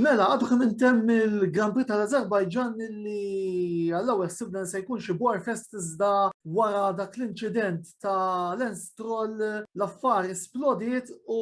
Mela, għadu kemm intemm il-Grand Prix tal-Azerbajġan li għall-ewwel sibna se jkun xi Warfest iżda wara dak l-inċident ta' Lens Troll l-affar splodiet u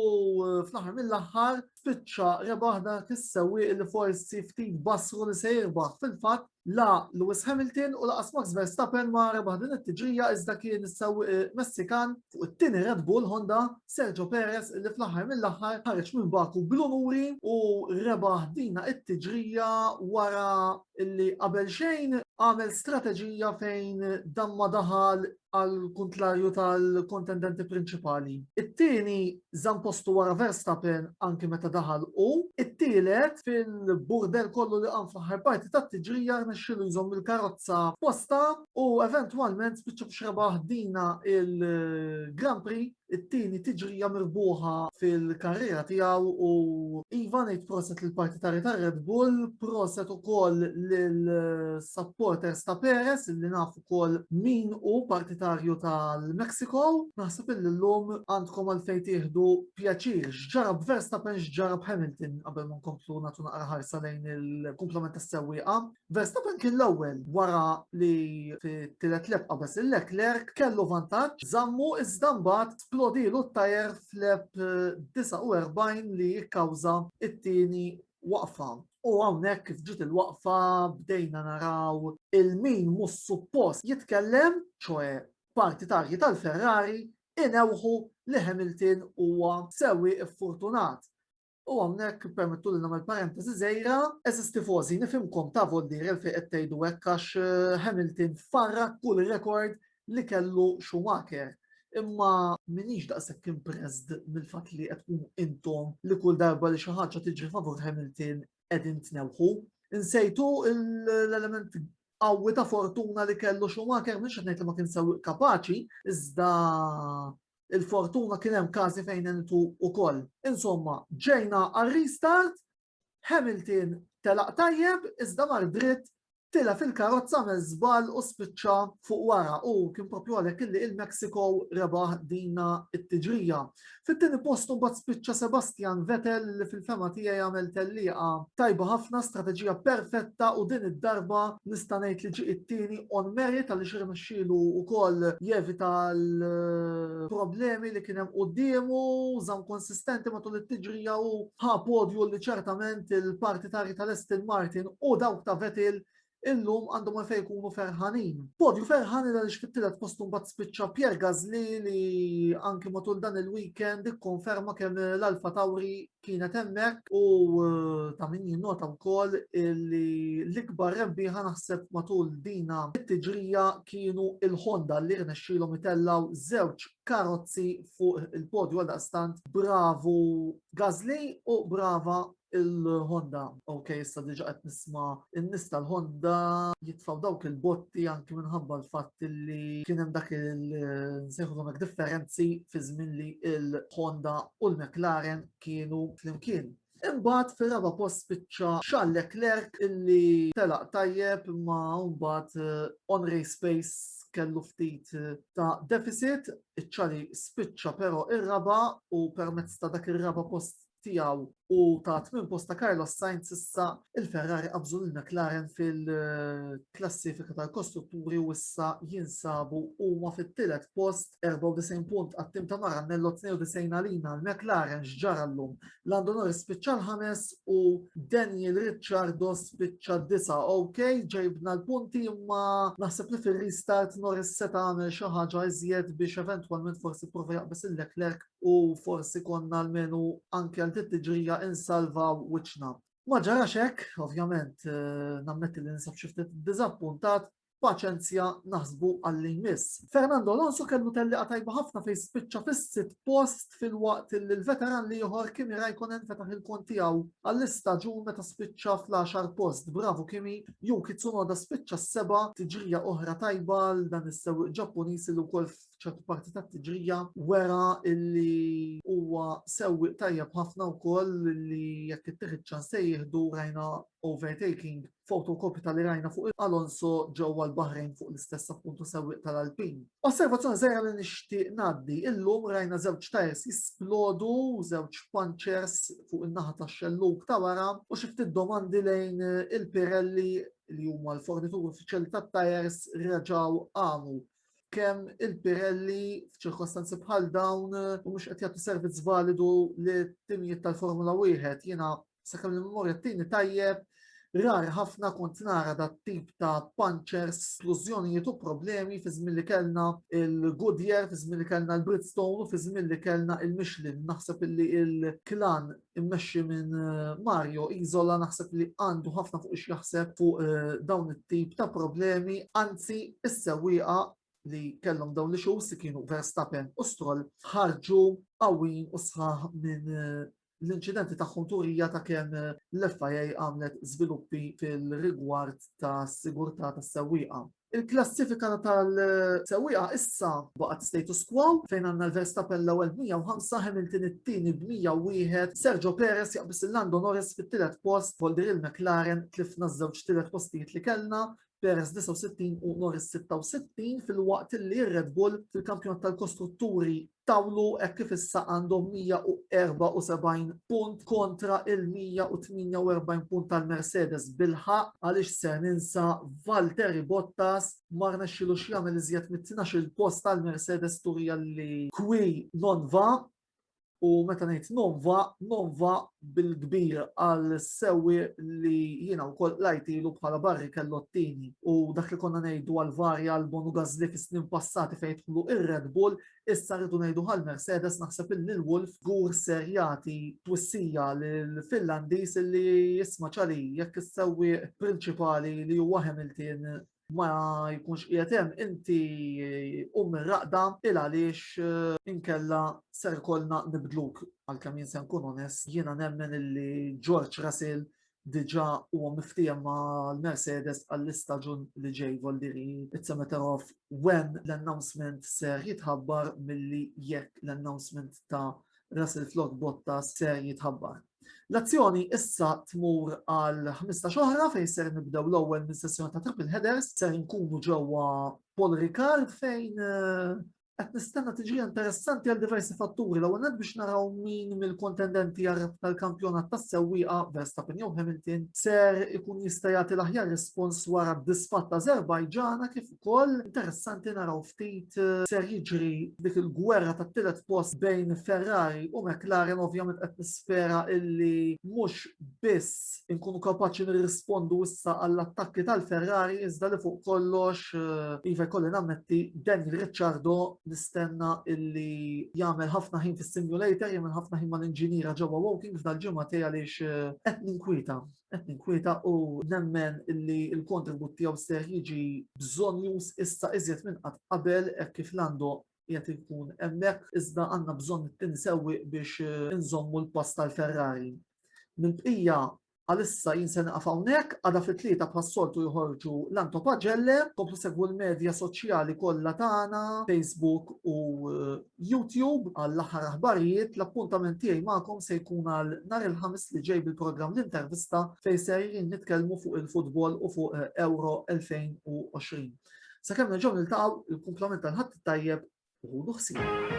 fl-aħħar mill-aħħar spiċċa rebaħ dak is-sewwieq li forsi ftit basru li se jirbaħ fil-fatt La Lewis Hamilton u laqas Max Verstappen ma rebaħ din it-tiġrija iżda kien is-sewwieq eh, Messikan fuq it-tieni Red Bull Honda Sergio Perez li fl-aħħar mill-aħħar ħareġ minn Baku bl-unuri u rebaħ dina it-tiġrija wara li qabel xejn għamel strateġija fejn damma daħal għal kuntrarju tal-kontendenti prinċipali. It-tieni żamm postu wara Verstappen anki meta daħal u it-tielet fil-burder kollu li qam fl-aħħar parti tat-tiġrija rnexxielu jżomm il-karozza posta u eventwalment spiċċa biex rebaħ dina il-Grand Prix it-tieni tiġrija mirbuħa fil-karriera tiegħu u iva ngħid proset lill partitari ta' Red Bull, proset ukoll lil supporters ta' Perez li naf ukoll min hu partitarju tal-Mexico, naħseb illi llum għandkom għalfejn tieħdu pjaċir x'ġara b'Verstappen x'ġara b'Hamilton qabel ma nkomplu nagħtu naqra ħarsa lejn il-kumplament tas-sewwieqa. Verstappen kien l-ewwel wara li fit-tielet lap qabeż lil Leclerc kellu vantaġġ, żammu iżda mbagħad splodilu t-tajer f'lap 49 li kkawża t-tieni waqfa. U hawnhekk kif ġiet il-waqfa bdejna naraw il-min mhux suppost jitkellem, ċoe partitarji tal-Ferrari, inewħu li Hamilton huwa sewwieq iffortunat U hawnhekk ippermettuli nagħmel parentesi żgħira, eżis tifożi nifhimkom ta' voldir il fejn qed tgħidu hekk għax eh, Hamilton farrak kull rekord li kellu Schumacher. Imma minix daqshekk impressed mill-fatt li qed tkunu intom li kull darba li xi ħaġa tiġri favur Hamilton qegħdin tnewħu. Insejtu l-element qawwi ta' fortuna li kellu Schumacher mhux qed ngħid li ma kien sew kapaċi, iżda il-fortuna kien hemm każi fejn għentu wkoll. Insomma, ġejna għal restart, Hamilton telaq tajjeb iżda mar dritt tila fil-karozza me żball u spiċċa fuq wara u kien propju għalhekk illi il-Mexico rebaħ dina it-tiġrija. Fit-tieni post mbagħad spiċċa Sebastian Vettel li fil-fema tiegħi għamel tellieqa Tajba ħafna, strateġija perfetta u din id-darba nista' ngħid li ġie it-tieni on merit għaliex irnexxielu wkoll jevita l-problemi li kien hemm quddiemu, żamm konsistenti matul it-tiġrija u ħa podju li ċertament il-parti tarji tal-Aston Martin u dawk ta' Vettel illum għandhom għalfejn ikunu ferħanin. Podju ferħan il għaliex fit-tielet post mbagħad spiċċa Pier Gazli li anki matul dan il-weekend ikkonferma kemm l-Alfa Tauri kienet hemmhekk u eh, ta' min jinnota wkoll li l-ikbar rebbieħa naħseb matul dina it-tiġrija kienu il-Honda li rnexxilhom itellaw żewġ karozzi fuq il-podju għal stant bravu Gazli u brava il-Honda. Ok, issa diġa qed nisma n-nies tal-Honda jitfaw dawk il-botti anki minħabba l-fatt li kien hemm dak il-nsejħu hekk differenzi fi żmien li il-Honda u l-McLaren kienu flimkien. Imbagħad fir-raba post spiċċa Charles Leclerc illi telaq tajjeb ma mbagħad eh, on race pace kellu ftit eh, ta' deficit, iċċali spiċċa però ir-raba u permezz ta' dak ir-raba post tiegħu u ta' tmien post ta' Carlos Sainz issa il-Ferrari qabżu lil McLaren fil-klassifika tal-kostrutturi u issa jinsabu huma fit-tielet post 94 punt għat-tim ta' Maranello 92 għalina l-McLaren x'ġara llum. Lando Norris spiċċa l-ħames u Daniel Ricciardo spiċċa d-disa. Ok, ġejbna l-punti imma naħseb li fir-restart Norris seta' għamel xi ħaġa iżjed biex eventwalment forsi prova jaqbes il-Leclerc u forsi konna almenu anke għal dit tiġrija insalvaw wiċċna. Ma ġarax hekk, ovvjament, eh, nammetti li nisab xi ftit diżappuntat, paċenzja naħsbu għalli jmiss. Fernando Alonso kellu telli tajba ħafna fejn spiċċa fis-sit post fil-waqt li l-veteran li joħor Kimi Raikkonen fetaħ il-kont tiegħu għall-istaġun meta spiċċa fl-10 post. Bravo Kimi, jew Kitsunoda spiċċa s-seba tiġrija oħra tajba għal dan is-sewwieq Ġappuniż li wkoll f'ċertu parti ta' tiġrija wera illi huwa sewwi tajjeb ħafna wkoll li jekk ittieħed ċans se jieħdu rajna overtaking fotokopju tal rajna fuq Alonso ġewwa l-Bahrejn fuq l-istess appuntu sewwi tal-Alpin. Osservazzjoni żgħira li nixtieq ngħaddi, illum rajna żewġ tajers jisplodu, żewġ punchers fuq in-naħa tax-xelluk ta' wara u xi ftit domandi lejn il-Pirelli li huma l-fornitur uffiċjali tat-tajers reġgħu qamu kemm il-Pirelli f'ċirkostanzi bħal dawn u mhux qed jagħtu servizz validu li timijiet tal-Formula wieħed jiena sakemm il-memorja tini tajjeb rar ħafna kont nara dat tip ta' punchers, splużjonijiet u problemi fi żmien li kellna il-Goodyear, fi żmien li kellna l-Bridgestone u fi żmien li kellna il-Michelin. Naħseb illi il-klan immexxi minn eh, Mario Isola naħseb li għandu ħafna fuq x'jaħseb fuq eh, dawn it-tip ta' problemi, anzi is-sewwieqa li kellhom dawn li xus si kienu Verstappen u Stroll ħarġu qawwin u sħaħ minn eh, l-inċidenti ta' turija ta' kemm l-FIA għamlet żviluppi fil-rigward ta' sigurtà tas sewwieqa Il-klassifika tal-sewwieqa issa baqgħet status quo fejn għandna l-Verstappen l-ewwel b'105, Hamilton it-tieni b'101, Sergio Perez jaqbiż il-Lando Norris fit-tielet post, Polder Hill McLaren tlifna ż-żewġ tielet postijiet li kellna, Perez 69 u Norris 66, filwaqt li r-Red Bull fil-Kampjonat tal-Kostrutturi tawlu hekk kif issa għandhom 174 punt kontra il-148 punt tal-Mercedes bil-ħaqq għaliex ser ninsa Valtteri Bottas ma rnexxilux jagħmel iżjed mit-12 post tal-Mercedes turija li kwi non va u meta ngħid non va non va bil-kbir għal sewi li jiena wkoll lajtilu bħala barri kellottini u dak li konna ngħidu għal varja għal bonu gazli fis-snin passati fejn dħlu ir-Red Bull Issa rridu ngħidu għal Mercedes naħseb illi l-Wolf żgur ser jagħti twissija lill-Finlandiż illi jisma' Charlie jekk is-sewwieq prinċipali li huwa Hamilton ma jkunx qiegħed hemm inti qum mir-raqda il għaliex eh, inkella ser kollna nibdluk għalkemm jien se nkun onest jiena nemmen illi George Russell diġà huwa miftiehem ma' l-Mercedes għall-istaġun li ġej Voldiri it's a matter of when l-announcement ser jitħabbar milli jekk l-announcement ta' Russell Flott Bottas ser jitħabbar. L-azzjoni issa tmur għal 15 oħra fejn ser nibdew l-ewwel minn sessjoni ta' triple headers, ser nkunu ġewwa Paul Ricard fejn eh, qed nistenna tiġi interessanti għal diversi fatturi l-ewwel nett biex naraw min mill-kontendenti għal tal-kampjonat tas-sewwieqa Verstappen jew Hamilton ser ikun jista' jagħti l-aħjar rispons wara d-disfatt ta' Azerbajġana kif ukoll interessanti naraw ftit eh, ser jiġri dik il-gwerra tat-tielet post bejn Ferrari u McLaren ovvjament qed nispera illi mhux biss inkunu kapaċi nirrispondu issa għall-attakki tal-Ferrari iżda li fuq kollox eh, iva jkolli nammetti Daniel Ricciardo nistenna illi jagħmel ħafna ħin fis-simulator, jagħmel ħafna ħin mal-inġiniera ġewwa walking f'dal-ġimgħa tiegħi għaliex eh, qed ninkwieta qed ninkwieta u nemmen illi l-kontribut tiegħu ser jiġi bżonn jus issa iżjed minn qatt qabel hekk kif Lando qiegħed inkun hemmhekk iżda għandna bżonn it-tieni sewwieq biex inżommu l-pass tal-Ferrari. Mill-bqija Għalissa jien se naqaf hawnhekk, għada fit-tlieta bħas-soltu joħorġu l-Anto Pagelle, komplu segwu l-medja soċjali kollha tagħna, Facebook u eh, YouTube għall-aħħar aħbarijiet, l-appuntament tiegħi magħkom se jkun għal nhar il-ħamis li ġej bil-programm l-intervista fejn se nitkellmu fuq il-futbol u fuq eh, Euro 2020. Sakemm nerġgħu niltaqgħu il-kumplament tal-ħadd tajjeb u ħudu ħsieb.